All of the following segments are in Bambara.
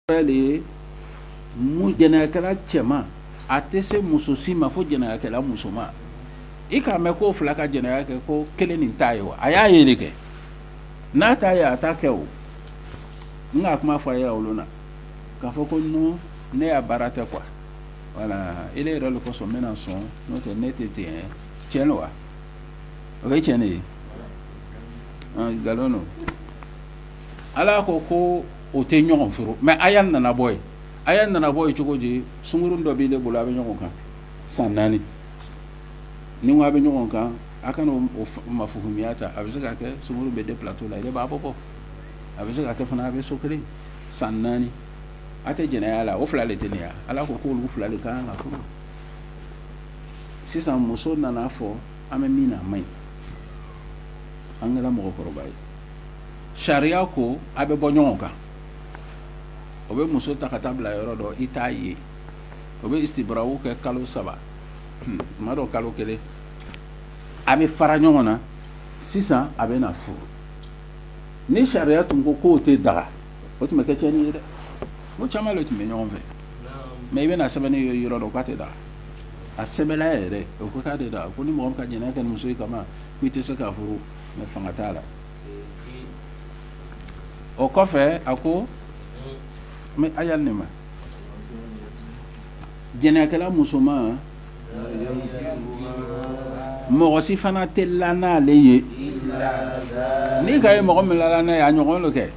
de ye mun jɛnɛyakɛla cɛman a tɛ se muso si ma fo jɛnɛyakɛla musoman i k'a mɛn k'o fila ka jɛnɛya kɛ ko kelen nin t'a ye wa a y'a ye de kɛ n'a t'a ye a t'a kɛ o n k'a kuma fɔ a ye olu na k'a fɔ ko non ne ya baara tɛ quoi wala e yɛrɛ de kosɔn n bɛna sɔn n'o tɛ ne tɛ ten tiɲɛ don wa o ye tiɲɛ de ye nkalon don ala ko ko o tɛ ɲɔgɔn furu mɛ a ya ɲanabɔ ye a ya ɲanabɔ ye cogo di sungurun dɔ b'e de bolo a bɛ ɲɔgɔn kan san naani ni a bɛ ɲɔgɔn kan a kana ma fuya ta a bɛ se ka kɛ sumaworo bɛ de pto la b'a bɔ kɔ a bɛ se ka kɛ fana a bɛ so kelen san naani a tɛ jɛnɛya la o fila de tɛ ala ko k'o fila de kan sisan muso nana fɔ An bɛ min na a man ɲi an kɛra mɔgɔkɔrɔba ye sariya ko a bɛ bɔ ɲɔgɔn kan o bɛ muso ta ka taa bila yɔrɔ dɔ i t'a ye o bɛ istibra kɛ kalo saba tuma dɔ kalo kelen a bɛ fara ɲɔgɔn na sisan a bɛ na furu nin sariya tun ko k'o tɛ daga o tun bɛ kɛ tiɲɛni ye dɛ o caman de tun bɛ ɲɔgɔn fɛ mɛ i bɛna a sɛbɛnnen ye yɔrɔ dɔ k'a tɛ daga a sɛbɛn yɛrɛ o ko k'a de da ko ni mɔgɔ ka jɛnɛya kɛ muso kama i tɛ se k'a furu mɛ fanga t'a la o kɔfɛ a ko mɛ a y'a ne ma jɛnɛyakɛla musoman mɔgɔ si fana tɛ la n'ale ye n'i k'a ye mɔgɔ min la n'a ye a ɲɔgɔn kɛ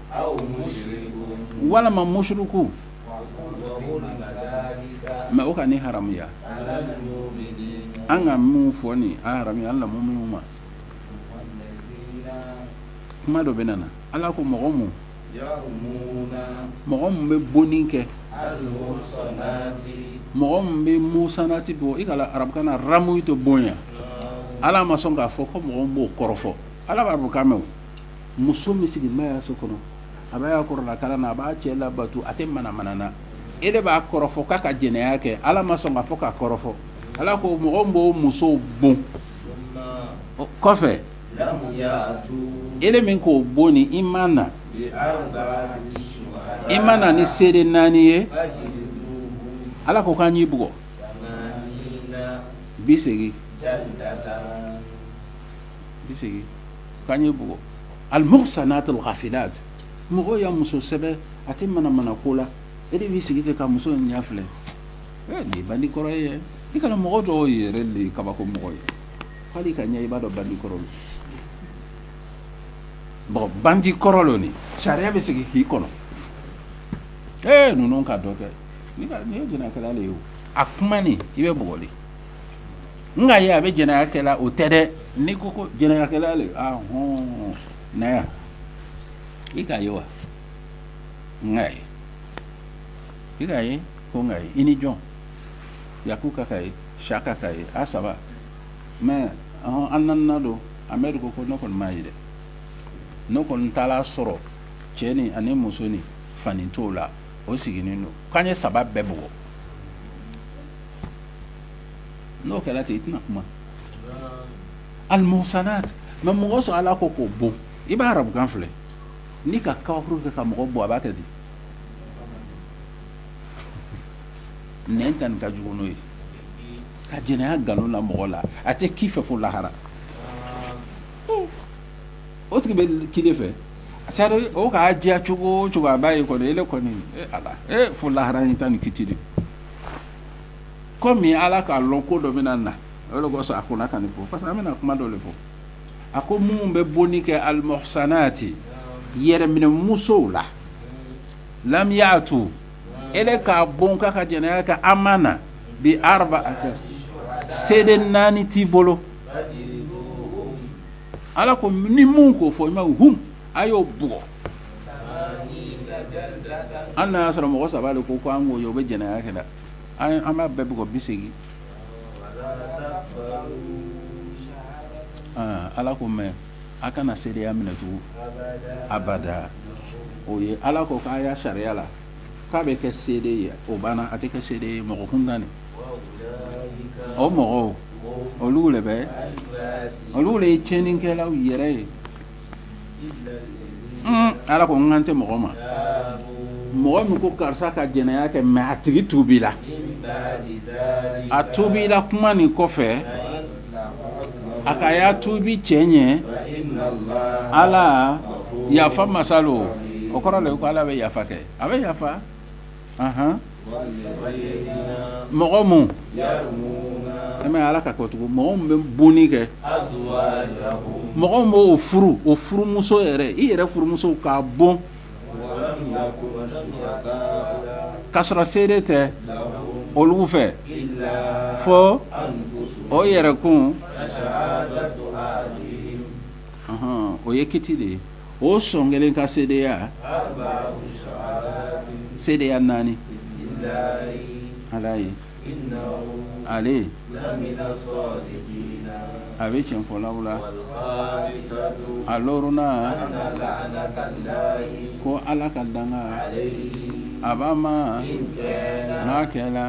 walima musiriku Mɛ o ka nin haramuya an ka min fɔ nin haramuya almuminu ma kuma dɔ bɛ na ala ko mɔgɔ minnu mɔgɔ minnu bɛ bonni kɛ mɔgɔ minnu bɛ musanati bon i k'a lɔn arabukan na aramuyi tɛ bon ye ala ma sɔn k'a fɔ ko mɔgɔ min b'o kɔrɔfɔ ala b'arabukan mɛn muso min sigi b'a ya so kɔnɔ a b'a ya kuranɛ kalan na a b'a cɛ labato a tɛ manamana na e de b'a kɔrɔfɔ k'a ka jɛnɛya kɛ ala ma sɔn k'a fɔ k'a kɔrɔfɔ ala ko mɔgɔ b'o musow bon kɔfɛ e min k'o bon ni i ma na i ma na ni seere naani ye ala ko k'an y'i bugɔ bi segin bi segin k'an ye bugɔ almuhsanatu lghafilat mɔgɔ ya muso sɛbɛ a tɛ manamana ko la e de b'i sigi ten ka muso in ɲɛ filɛ eh, nin ye bandi kɔrɔ ye i kana mɔgɔ dɔw yɛrɛ de kabako mɔgɔ ye hali ka ɲɛ i b'a dɔn bandi kɔrɔ lo bɔn bandi kɔrɔ lo nin sariya bɛ sigi k'i kɔnɔ ee eh, ninnu ka dɔ kɛ nin ye jɛnɛkɛla le ye o a kuma nin i bɛ bugɔ le n k'a ye a bɛ jɛnɛya kɛ la o tɛ dɛ ni ko ko jɛnɛyakɛla hɔn na i k'a ye wa n k'a ye i k'a ye ko n k'a ye i ni jɔn yakuba k'a ye siyaka k'a ye a saba mɛ a naaninan don amɛdi ko ko ne kɔni m'a ye dɛ ne kɔni taara a sɔrɔ cɛnin ani musonin fani t'o la o sigilen don k'an ye saba bɛɛ bugɔ n'o kɛra ten i tɛna kuma almuhsanat mɛ mɔgɔ sɔrɔ ala ko k'o bon i b'a arabukan filɛ ni ka kabakuru kɛ ka mɔgɔ bon a b'a kɛ di nɛn ta nin ka jugu n'o ye ka jɛnɛya nkalon la mɔgɔ la a tɛ k'i fɛ fo lahara o tigi bɛ kile fɛ sari o k'a diya cogo o cogo a b'a ye kɔni ele kɔni e ala e fo lahara in ta ni kiti de kɔmi ala k'a dɔn ko dɔ bɛ na na o le kosɔn a kɔnna ka nin fɔ parce que an bɛna kuma dɔ de fɔ a ko minnu bɛ bonni kɛ almuhsanati yɛrɛminɛ musow la lam yaatu e k'a bon k'a ka jɛnɛya kɛ a ma na bi araba a kɛ seere naani t'i bolo ala ko ni min k'o fɔ i ma hu a y'o bugɔ An n'a y'a sɔrɔ mɔgɔ saba de ko an k'o ye o bɛ jɛnɛya kɛ la an b'a bɛɛ bugɔ biseegin ala ko mɛ a kana seereya minɛ tugun abada o ye ala ko k'a y'a sariya la k'a bɛ kɛ seere ye o banna a tɛ kɛ seere ye mɔgɔ kun tuguni o mɔgɔw olu de bɛ olu de ye tiɲɛnikɛlaw yɛrɛ ye ala ko n kan tɛ mɔgɔ ma mɔgɔ min ko karisa ka jɛnɛya kɛ mɛ a tigi tuubila a tuubila kuma nin kɔfɛ a k'a ya tuubi cɛɲɛ ala yafa masa lo o kɔrɔ ko ala bɛ yafa kɛ a bɛ yafa mɔgɔ minnu an ala ka kocogo mɔgɔ min bɛ bonni kɛ mɔgɔ min b'o furu o furumuso yɛrɛ i yɛrɛ furumuso ka bon ka sɔrɔ seere tɛ olu fɛ fɔ o yɛrɛkun o ye kiti de ye o sɔn kelen ka seereya seereya naani ala ye ale a bɛ cɛnfɔlaw la a loruna ko ala ka danga b'a ma n'a kɛra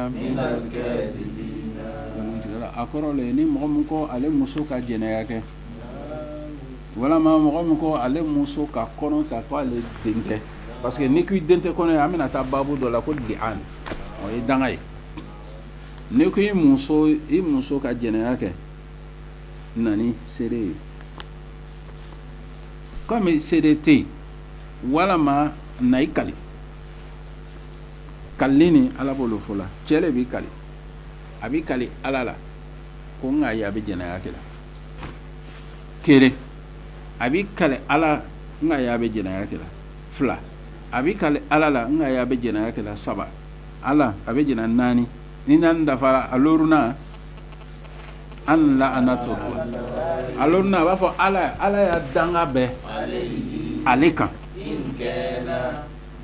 a kɔrɔ ni mɔgɔ min ko ale muso ka jɛnɛya kɛ Walima mɔgɔ min ko ale muso ka kɔnɔ ta k' ale den tɛ parce que n'i ko i den tɛ kɔnɔ ye an bɛna taa baabu dɔ la ko di o ye danga ye n'i ko i muso i muso ka jɛnɛya kɛ na ni seere ye komi seere tɛ yen walima na i kali kalini ala b'o le fɔ la cɛ de b'i kali a b'i kali ala la ko n k'a ye a bɛ jɛnɛya kɛ la kelen a b'i kali ala n k'a y'a bɛ jɛnɛya kɛ la fila a b'i kali ala la n k'a y'a bɛ jɛnɛya kɛ la saba ala a bɛ jɛnɛ naani ni naani dafara a loruna an la an na to a loruna a b'a fɔ ala ala y'a danga bɛ ale kan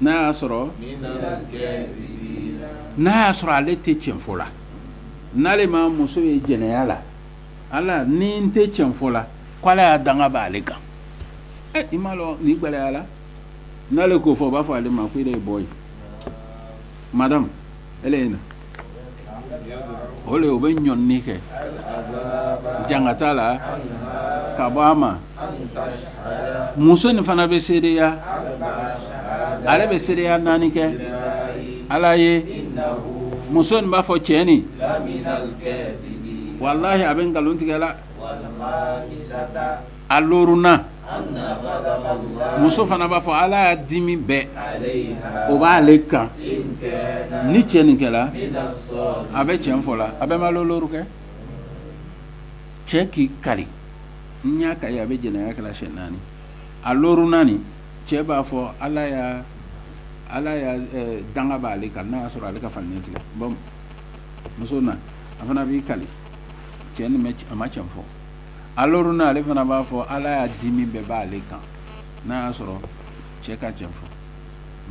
n'a y'a sɔrɔ n'a y'a sɔrɔ ale tɛ cɛn fɔ la n'ale ma muso ye jɛnɛya la ala ni n tɛ cɛn fɔ la k' ala y'a danga bɛ ale kan i m'a dɔn nin gɛlɛyala n'ale k'o fɔ u b'a fɔ ale ma ko ile ye bɔ yen madamu ile ye na o le o bɛ ɲɔni kɛ jangata la ka bɔ a ma muso in fana bɛ seereya ale bɛ seereya naani kɛ ala ye muso in b'a fɔ cɛ nin walahi a bɛ nkalon tigɛ la a loruna muso fana b'a fɔ ala y'a dimi bɛɛ o b'ale kan ni cɛ nin kɛla a bɛ cɛn fɔ la a bɛ ma loru kɛ cɛ k'i kali n y'a ka a bɛ jɛnɛya kɛra siɲɛ naani a loorunan cɛ b'a fɔ ala ya ala ya danga b' ale kan n'a y'a sɔrɔ ale ka faniya tigɛ muso a fana b'i kali cɛ nin a ma cɛn fɔ a loorunan ale fana b'a fɔ ala ya dimi bɛɛ b' ale kan n'a y'a sɔrɔ cɛ ka cɛn fɔ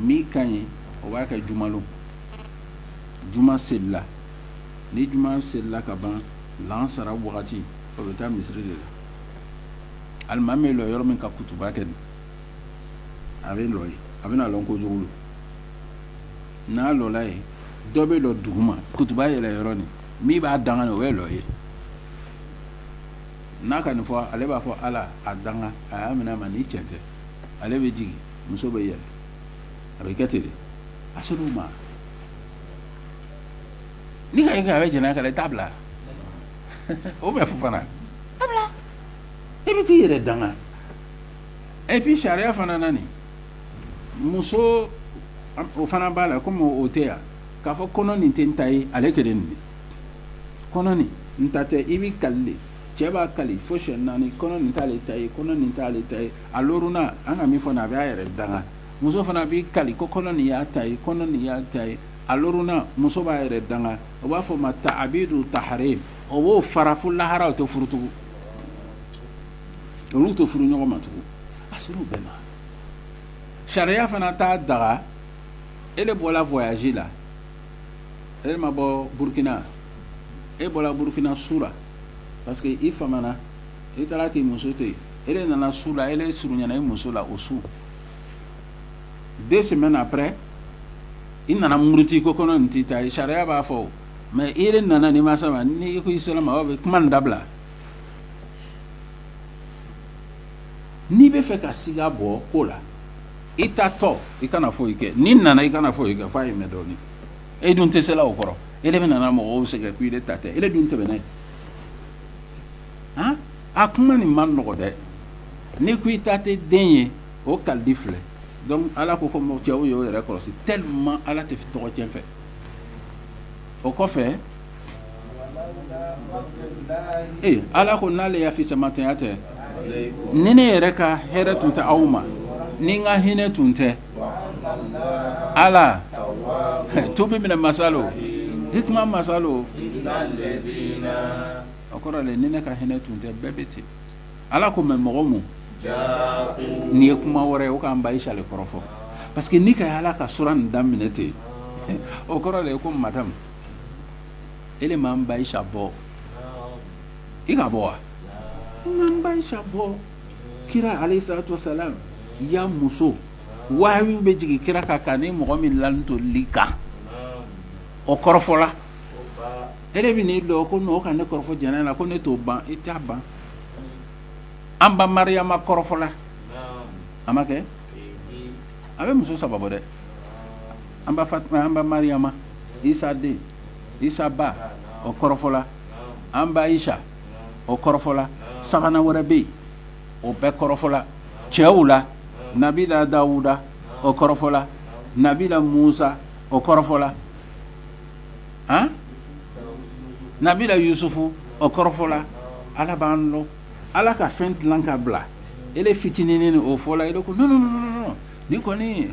min ka ɲi o b'a kɛ juma lon juma seli la ni juma selila ka ban lansara wagati o bɛ taa misiri de la alimami bɛ lɔ yɔrɔ min ka kutuba kɛ a bɛ lɔ yen a bɛ na lɔ ko jugu n'a lɔla yen dɔ bɛ lɔ dugu ma kutuba yɛlɛ yɔrɔ nin min b'a danga o bɛ lɔ yen n'a ka nin fɔ ale b'a fɔ ala a danga a y'a minɛ a ma ni cɛn tɛ ale bɛ jigin muso bɛ yɛlɛ a bɛ kɛ ten le a se ma n'i ko a bɛ jɛnɛya kɛla i t'a bila o bɛ fɔ fana i bɛ t'i yɛrɛ danga et puis sariya fana na muso o fana b'a la kɔmi o tɛ yan k'a fɔ kɔnɔ nin tɛ n ta ye ale kelen nin kɔnɔ nin n ta tɛ i bɛ kali le cɛ b'a kali fo siɲɛ naani kɔnɔ nin t' ale ta ye kɔnɔ nin t' ale ta ye a loorunan an ka min fɔ a bɛ a yɛrɛ danga muso fana b'i kali ko kɔnɔ nin y'a ta ye kɔnɔ nin y'a ta ye a loorunan muso b'a yɛrɛ danga o b'a fɔ ma ta a bɛ don ta ha ye o b'o fara fo lahara o tɛ furu tugun olu tɛ furu ɲɔgɔn ma tugun a bɛ na sariya fana t'a daga e de bɔra fɔ la e ma bɔ burukina e bɔra burukina su la parce que i famana i taara k'i muso tɛ yen e nana su la e surunyana i muso la o su deux semaines après i nana muruti ko kɔnɔ in t'i ta ye sariya b'a fɔ mais e de nana n'i ma s' a ma nka i sera a ma bɛ kuma in dabila n'i bɛ fɛ ka siga bɔ ko la i taatɔ i kana foyi kɛ n'i nana i kana foyi kɛ fo a ye mɛɛn dɔɔnin e dun tɛ se o kɔrɔ e bɛ nana mɔgɔw sɛgɛn k' i de ta tɛ e dun tɛmɛna yen a kuma nin man nɔgɔ dɛ n'i ko i ta tɛ den ye o kalili filɛ donc ala ko ko mɔ cɛw ye o yɛrɛ kɔlɔsi tellement ala tɛ tɔgɔcɛn fɛ o kɔfɛ ee ala ko n'ale ya fisamanteya tɛ ni ne yɛrɛ ka hɛrɛ tun tɛ aw ma ni n ka hinɛ tun tɛ ala tun bɛ minɛ masalo i kuma masalo a ko ni ne ka hinɛ tun tɛ bɛɛ bɛ ten ala ko mɛ mɔgɔ ma n'i ye kuma wɛrɛ ye o k'an ba aisa de kɔrɔfɔ parce que n'i k'a ye ala ka sura nin daminɛ ten o kɔrɔ ye ko madamu e de m'an ba aisa bɔ i k'a bɔ wa n m'an ba aisa bɔ kira alayhi salatu wa salamu ya muso wahayu bɛ jigin kira kan k'a ni mɔgɔ min lanin to lit kan o kɔrɔfɔla e bɛ nini dɔn ko mɔgɔw ka ne kɔrɔfɔ jɛnɛya la ko ne t'o ban i t'a ban an ba mariama kɔrɔfɔla a ma kɛ a bɛ muso saba dɛ an ba mariama isa den isa ba o kɔrɔfɔla an ba aisa o kɔrɔfɔla sabanan wɛrɛ bɛ yen o bɛɛ kɔrɔfɔla cɛw la nabila dawuda o kɔrɔfɔla nabila musa o kɔrɔfɔla a nabila yusufu o kɔrɔfɔla ala b'an dɔn ala ka fɛn dilan ka bila e de fitininin o fɔla e de ko ni kɔni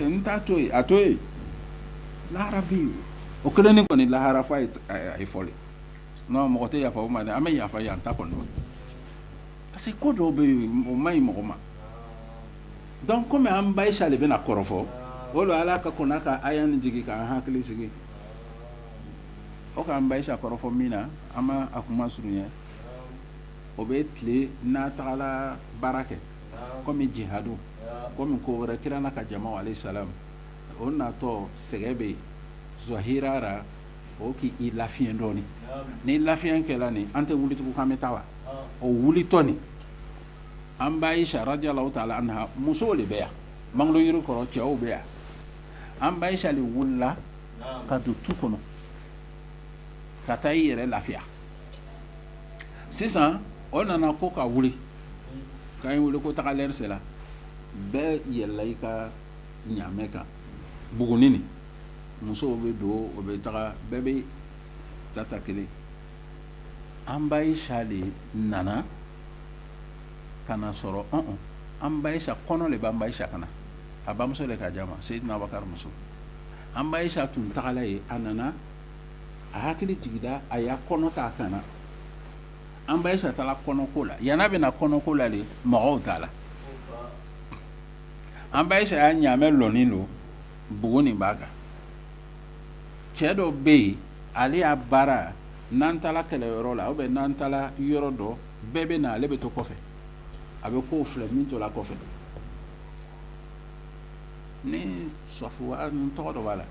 n t'a to yen a to yen lahara bɛ o kɛlen ni kɔni lahara a ye fɔ n mɔgɔ tɛ yafa ma an bɛ yafa an ta kɔnɔ parce que ko dɔ bɛ yen o man ɲi mɔgɔ ma dɔnku kɔmi an ba aisa de bɛna kɔrɔfɔ o don ala ka kurana ka aya nin jigin k'an hakili sigi o k'an ba aisa kɔrɔfɔ min na an b'a kuma surunya o bɛ tile n'a tagala baara kɛ kɔmi jihadu kɔmi ko wɛrɛ kira n'a ka jama alayhi salamu o natɔ sɛgɛn bɛ yen sira la o k'i lafiya dɔɔnin ni lafiya kɛra nin an tɛ wuli tugun k'an bɛ taa wa o wulitɔ nin an ba aisa radiyalahu taala anha musow de bɛ yan mangolo yiri kɔrɔ cɛw bɛ yan an ba aisa de wulila ka don tu kɔnɔ ka taa i yɛrɛ lafiya sisan o nana ko o ka wuli k'a' ye wuli ko taga lɛrɛ sera bɛɛ yɛlɛla i ka ɲamɛ kan bugununi musow bɛ don o bɛ taga bɛɛ bɛ tata kelen an ba aisa de nana k'a sɔrɔ an ba aisa kɔnɔ de b'an ba aisa kan na a bamuso de k'a di a ma seyidina bakari muso an ba aisa tun tagala yen a nana a hakili jigila a y'a kɔnɔ t'a kan na an ba aisa taala kɔnɔko la yan bɛna kɔnɔko la de mɔgɔw taala an ba aisa ya ɲamɛ dɔɔni don bugunin b'a kan cɛ dɔ bɛ yen ale ya baara n'an taara kɛlɛ yɔrɔ la o bɛ n'an taara yɔrɔ dɔ bɛɛ bɛ na ale bɛ to kɔfɛ a bɛ kow filɛ min tora kɔfɛ ni sa tɔgɔ dɔ b'a la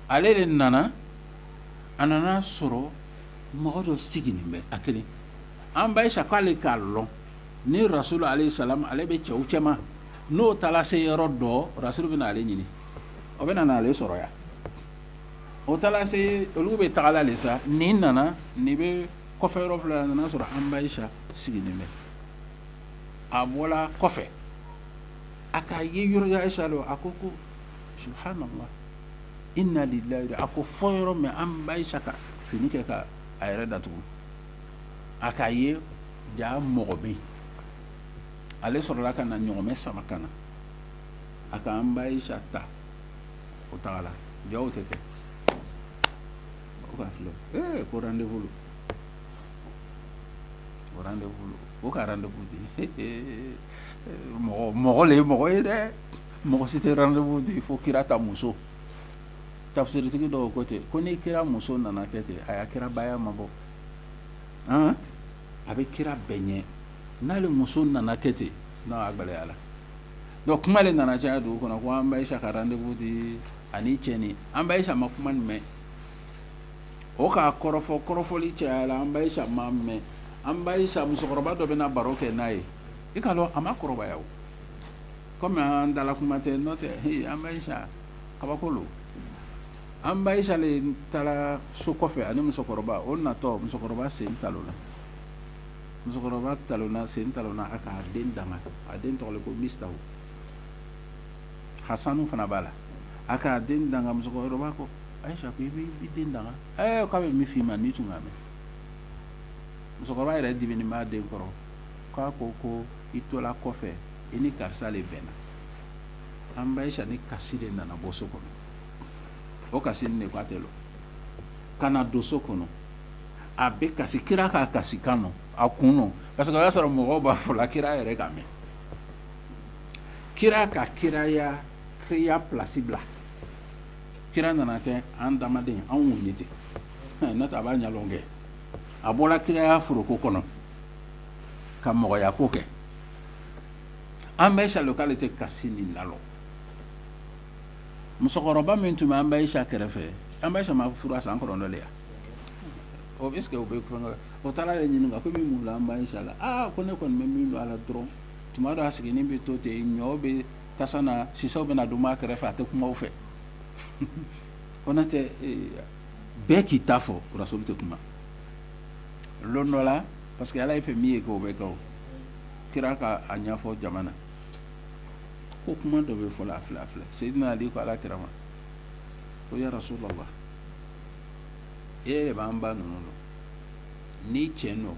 ale de nana a nana sɔrɔ mɔgɔ dɔ siginin bɛ a kelen an ba Ayisa k'ale k'a dɔn ni rasulu aleyisalam ale bɛ cɛw cɛ n'o taara se yɔrɔ dɔ rasulu bɛna ale ɲini o bɛ na ale sɔrɔ yan o taara se olu bɛ tagala de sa ni nana ni bɛ kɔfɛ yɔrɔ filɛla a nana sɔrɔ an ba Ayisa sigilen bɛ a bɔra kɔfɛ a k'a ye yɔrɔ Ayisa don a ko subuhanala ina lilahi a k'o fɔ yɔrɔ min an ba Ayisa ka fini kɛ ka a yɛrɛ datugu a k'a ye jaa mɔgɔ bɛ ale sɔrɔla ka na ɲɔgɔmɛ sama ka na a ka an ba Ayisa ta o tagala jaw tɛ kɛ o k'a filɛ ee ko rendez-vous don o rendez-vous don o ka rendez-vous di ee mɔgɔ mɔgɔ le ye mɔgɔ ye dɛ mɔgɔ si tɛ rendez-vous di fo kira ta muso tafsiritigi dɔw ko ten ko ni kira muso nana kɛ ten a y'a kirabaya mabɔ han a bɛ kira bɛɛ ɲɛ n'ale muso nana kɛ ten non a gɛlɛyara donc kuma de nana caya dugu kɔnɔ ko an ba Ayisa ka rendez-vous di ani cɛnin an ba Ayisa ma kuma in mɛn o k'a kɔrɔfɔ kɔrɔfɔli cayala an ba Ayisa m'a mɛn an ba Ayisa musokɔrɔba dɔ bɛna baro kɛ n'a ye i k'a dɔn a ma kɔrɔbaya o komi an da la kuma tɛ n'o tɛ he an ba Ayisa kabako don an ba Ayisa le taara so kɔfɛ ani musokɔrɔba o natɔ musokɔrɔba sen talonna musokɔrɔba talonna sen talonna a k'a den danga a den tɔgɔ ko Mistahu hasanu fana b'a la a k'a den danga musokɔrɔba ko ayisa ko i bɛ i den danga ɛɛ k'a bɛ min f'i ma n'i tun k'a mɛn musokɔrɔba yɛrɛ dimini b'a den kɔrɔ k'a ko ko i tola kɔfɛ i ni karisa de bɛnna an ba ayisa ni kasi de nana bɔ so kɔnɔ o kasinin de ko a tɛ lɔ ka na don so kɔnɔ a bɛ kasi kira k'a kasi kan na a kun parce que o y'a sɔrɔ mɔgɔ b'a fɔla kira yɛrɛ k'a mɛn kira ka kiraya kiya plasi bila kira nana kɛ an adamaden anw ye ten n a b'a ɲa kɛ a bɔra kiraya foroko kɔnɔ ka mɔgɔya ko kɛ an ba Ayisa k'ale tɛ kasi nin lalɔ musokɔrɔba min tun bɛ an ba Ayisa kɛrɛfɛ an ba Ayisa ma furu san kɔnɔntɔn yan ɔ est ce que o bɛ kulonkɛ la, o taara ale ɲininka ko i bɛ mun dɔn an ba Ayisa la, aa ko ne kɔni bɛ min dɔn a la dɔrɔn tuma dɔ a sigilen bɛ to ten ɲɔ bɛ tasa na sisɛw bɛna dumu a kɛrɛfɛ a tɛ kuma u fɛ Konatɛ bɛɛ k'i ta fɔ Rasulu tɛ kuma don dɔ la parce que Ala ye fɛn min ye kɛ o bɛ kɛ o kira ka a ɲɛfɔ jama na ko kuma dɔ bɛ fɔ la a filɛ a filɛ Seyidina Ali ko Alakira ma ko ya Rasulalah e yɛrɛ b'an ba ninnu dɔn ni cɛ nɔ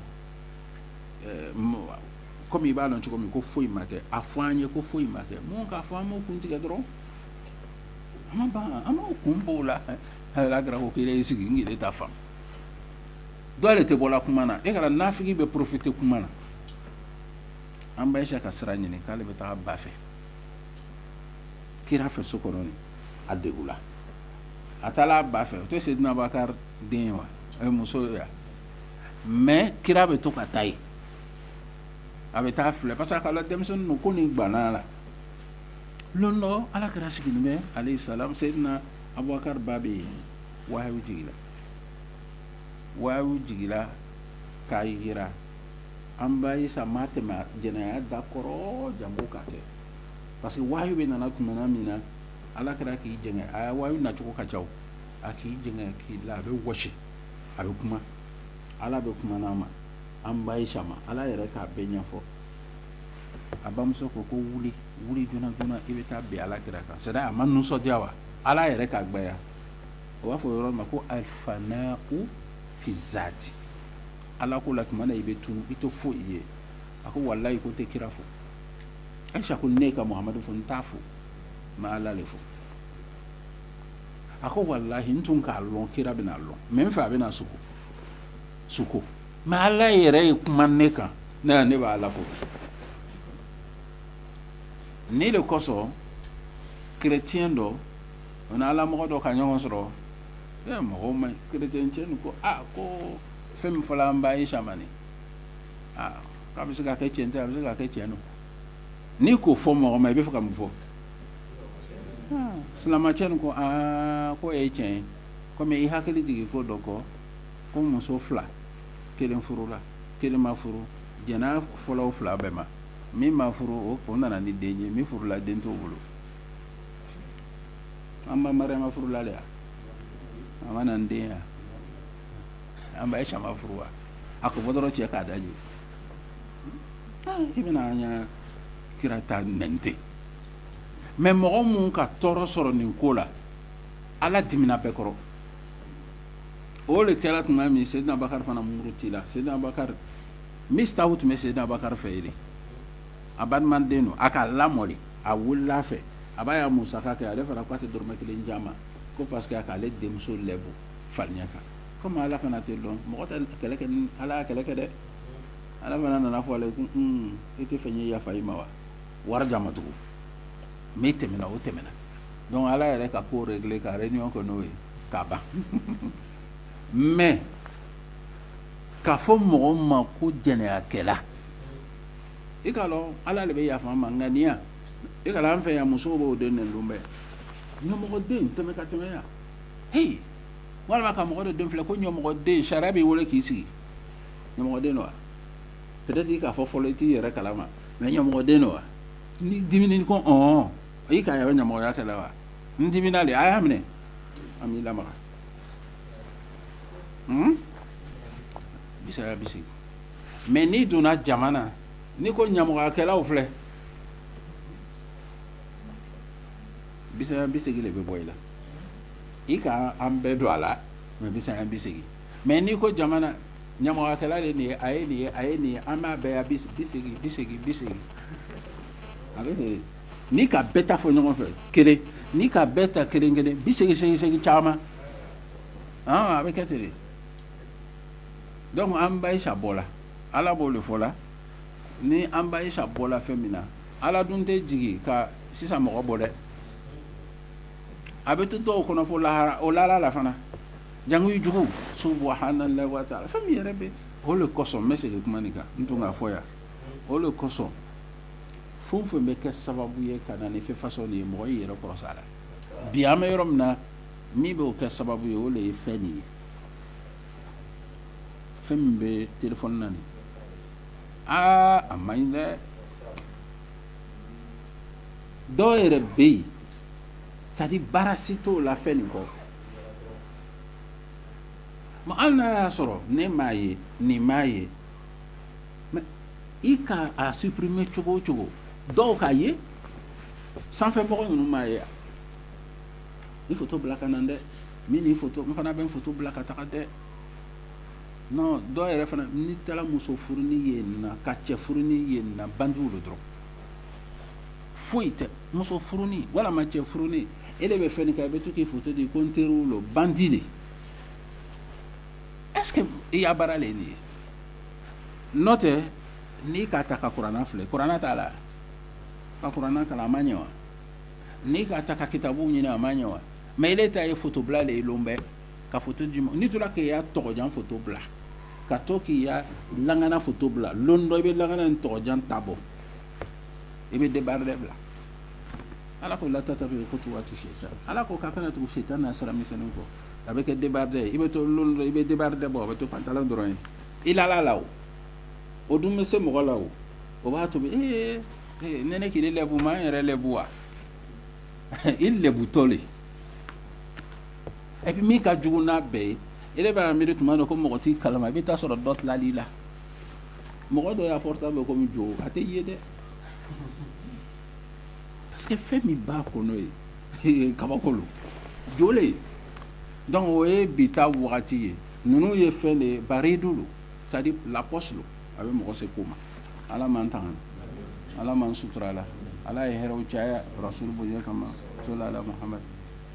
kɔmi i b'a dɔn cogo min ko foyi ma kɛ a fɔ an ye ko foyi ma kɛ mun k'a fɔ an b'a kun tigɛ dɔrɔn an an b'a kun bɔ a la kira ko kelen i sigi n ta fan dɔw de tɛ bɔ kuma na e kana nafigi bɛ profiter kuma na an ba ayisa ka sira ɲini k'ale bɛ taa ba fɛ kira fɛ so kɔnɔ a degunna a taara a ba fɛ o tɛ seyidina bubakari den wa a ye muso yan mɛ kira bɛ to ka taa yen a bɛ taa filɛ parce que' denmisɛnnin ko nin gbanna a la don dɔ ala kira sigilen bɛ aleyi salam seyidina abubakari ba bɛ yen wahayu jiginla wahayu jiginla k'a jira an ba ayisa ma tɛmɛ jɛnɛya da kɔrɔ janko k'a kɛ parce que wahayu bɛ nana tuma min na ala kira k'i j a wahayu nacogo ka ca a k'i j k'i la a bɛ wa a bɛ kuma ala bɛ kuma a ma an ba ayisa ma ala yɛrɛ k'a bɛɛ ɲɛfɔ a bamuso ko ko wuli wuli joona joona i bɛ taa bi ala kira kan sariya a ma nisɔndiya wa ala yɛrɛ k'a ba o b'a fɔ yɔrɔ ma ko alifa ko fizsaati ala ko la tuma i bɛ tu i to fo i ye a ko walayi ko n tɛ kira fo ayisa ko ne ka muhamadu fo n t'a fo n b'ala de fo a ko walayi n tun k'a dɔn kira bɛna a dɔn mɛ n fɛ a bɛna sugo sugo mɛ ala yɛrɛ ye kuma ne kan ne ne b'ala fo nin de kosɔn chrétien dɔ o ni ala mɔgɔ dɔ ka ɲɔgɔn sɔrɔ mɔgɔ ma chrétien ko aa ko fɛn min fɔra an ba ayisa ma ni a bɛ se ka kɛ cɛn a bɛ se ka kɛ cɛn don n'i k'o fɔ mɔgɔ ma i bɛ fɛ ka mun fɔ silamɛcɛ ko aa ko e ye cɛn ye kɔmi i hakili jigin ko dɔ kɔ ko muso fila kelen furula kelen ma furu jɛnɛya fɔla o fila bɛɛ ma min ma furu o ko nana ni den ye min furula den t'o bolo an ba furula de yan a ma na ni den ye an ba Ayisa furu wa a ko dɔgɔ cɛ k'a da ye i bɛna an ka kira ta n tɛ mɛ mɔgɔ minnu ka tɔɔrɔ sɔrɔ nin ko la ala dimina bɛɛ kɔrɔ o de kɛra tuma min seyidina Abubakari fana murutila seyidina Abubakari Misita tun bɛ seyidina Abubakari fɛ yen a balimaden don a ka lamɔ de a wulila a fɛ a b'a ya musaka kɛ ale fana k'a tɛ dɔrɔmɛ kelen d'a ma ko parce que a k'ale denmuso lɛbu farinya kan komi ala fana tɛ dɔn mɔgɔ tɛ kɛlɛ kɛ ni ala y'a kɛlɛ kɛ dɛ ala fana nana fɔ ale ye ko un e t'a fɛ n ye yafa i ma wa wari d'a ma tugun min tɛmɛna o tɛmɛna donc ala yɛrɛ ka ko régler ka réunion kɛ n'o ye k'a ban mais k'a fɔ mɔgɔ min ma ko jɛnɛyakɛla i k'a dɔn ala de bɛ yafa an ma ŋaniya i k'a dɔn an fɛ yan musow b'u den nɛni lon bɛɛ ɲamɔgɔden tɛmɛ ka tɛmɛ yan h walima ka mɔgɔ den filɛ ko ɲamɔgɔden sariya b'i weele k'i sigi ɲamɔgɔden wa peut-être i k'a fɔ fɔlɔ i t'i yɛrɛ kalama mais ɲamɔgɔden wa ni di ko hɔn e ka yɛrɛ ɲamɔgɔya kɛ wa n dimina de a y'a minɛ an b'i la bisaɲa bi segin mais n'i donna jama na n'i ko ɲamɔgɔyakɛlaw filɛ bisaɲa bi segin de bɛ bɔ i la i ka an bɛɛ don a la bisaɲa bi segin mais n'i ko jama na ɲamɔgɔyakɛla de nin a ye nin ye a ye nin an b'a bɛɛ bi segin bi segin bi segin a bɛ n'i ka bɛɛ ta fɔ ɲɔgɔn fɛ kelen n'i ka bɛɛ ta kelen kelen bi segin segin segin caman a bɛ kɛ ten de donc an ba Ayisa bɔla ala b'o de fɔ la ni an ba Ayisa bɔla fɛn min na Ala dun tɛ jigin ka sisan mɔgɔ bɔ dɛ a bɛ to dɔw kɔnɔ fɔ lahara o lahara la fana jangi jugu subhanallahi wa taala fɛn min yɛrɛ bɛ o de kɔsɔn n bɛ segin kuma nin kan n tun k'a fɔ yan o de kosɔn fɛn o fɛn bɛ kɛ sababu ye ka na ni fɛn façon nin ye mɔgɔ y'i yɛrɛ kɔrɔsi a la bi an bɛ yɔrɔ min na min bɛ kɛ sababu ye o de ye fɛn nin ye fɛn min bɛ téléphone na aa a man ɲi dɛ dɔw yɛrɛ bɛ yen c'est-à-dire baara si t'o la fɛn nin kɔ ma an n'a y'a sɔrɔ ne m'a ye nin m'a ye i ka a supprimer cogo o cogo dɔw k'a ye sanfɛmɔgɔ ninnu m'a ye i foto bila ka na dɛ n fana bɛ n foto bila ka taga dɛ dɔw yɛrɛ fana ni taara muso furunin ye ka cɛ furunin ye banjugu bɛ dɔrɔn foyi tɛ muso furunin walima cɛ furunin e de bɛ fɛn kɛ i bɛ to k'i foto di ko n teri wolo bandi de e i y'a baara de nin ye n nɔ tɛ n'i k'a ta ka kuranɛ filɛ kuranɛ t'a la ka kuranɛ kalan a ma ɲɛ wa n'i k'a ta ka kitabu ɲini a ma ɲɛ wa mɛ e ta ye fotobila de ye bɛɛ ka photo di ma, n'i tora k'i ka tɔgɔjan photo bila, ka to k'i ka lakana photo bila, don dɔ i bɛ lakana ni tɔgɔjan ta bɔ, i bɛ debardeur bila Ala ko la tattabi'u khutuwati seyitani, Ala ko k'a kana tugu sitana na sira misɛnninw kɔ, a bɛ kɛ debardeur ye, i bɛ to don dɔ i bɛ debardeur bɔ, a bɛ to pantalon dɔrɔn ye, i la la la o, o dun bɛ se mɔgɔ la o, o b'a tobi ee ee ne ne k'i lɛbu ma n yɛrɛ lɛbu wa i lɛbutɔ le E bɛ min ka j n'a bɛɛ ye e bɛ miiri tuma don ko mɔgɔ t'i kala i bɛ taa sɔrɔ dɔ tilali la mɔgɔ dɔ y'a portable ko jɔ a tɛ ye dɛ parce que fɛn min ba ko n'o ye kabakolo jo dɔnku o ye bi taa wagati ye ninnu ye fɛn de ye baare don don sadi lakɔso a bɛ mɔgɔ se ko ma ala m'an tanga ala m'an suturala ala ye hɛrɛ caya rasulu bonya kama so ala